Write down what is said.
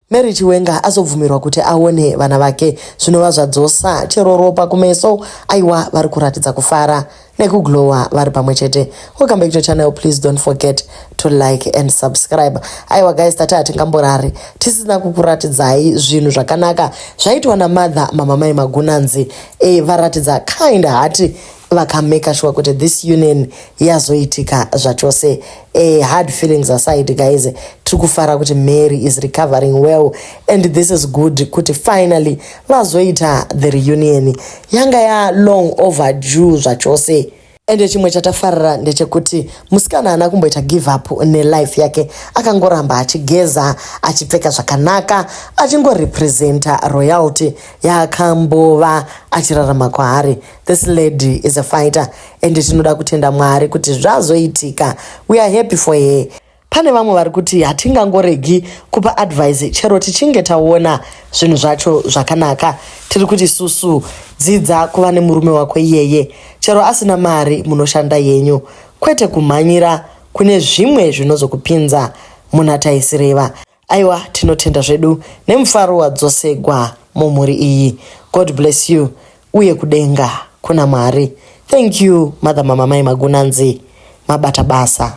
Mary Chiwenga azobvumirwa kuti aone vana vake zvinova zvadzosa chero ropa kumeso aiwa vari kuratidza kufara nekuglowa vari pamwe chete welcome back to channel please don't forget to like and subscribe aiwa guys tati hatingamborari tisina kukuratidzai zvinhu zvakanaka zvaitwa namother mamamai magunanzi e, varatidza kind heart vakamaker sure kuti this union yazoitika zvachose a hard feelings aside guys tiri kufara kuti mary is recovering well and this is good kuti finally vazoita the reunion yanga ya long over due zvachose ende chimwe chatafarira ndechekuti musikana haana kumboita give up nelife yake akangoramba achigeza achipfeka zvakanaka achingorepresenta royalty yaakambova achirarama kwaari This lady is a fighter and tinoda kutenda Mwari kuti zvazoitika. We are happy for her. Pane vamwe vari kuti hatingangoregi kupa advice chero tichinge taona zvinhu zvacho zvakanaka. Tiri kuti susu dzidza kuva nemurume wako iyeye. Chero asina mari munoshanda yenyu kwete kumhanyira kune zvimwe zvinozokupinza muna taisireva. Aiwa tinotenda zvedu nemufaro wadzosegwa mumhuri iyi. God bless you uye kudenga kuna Mwari. Thank you mother mama mai Magunanzi. Mabata basa.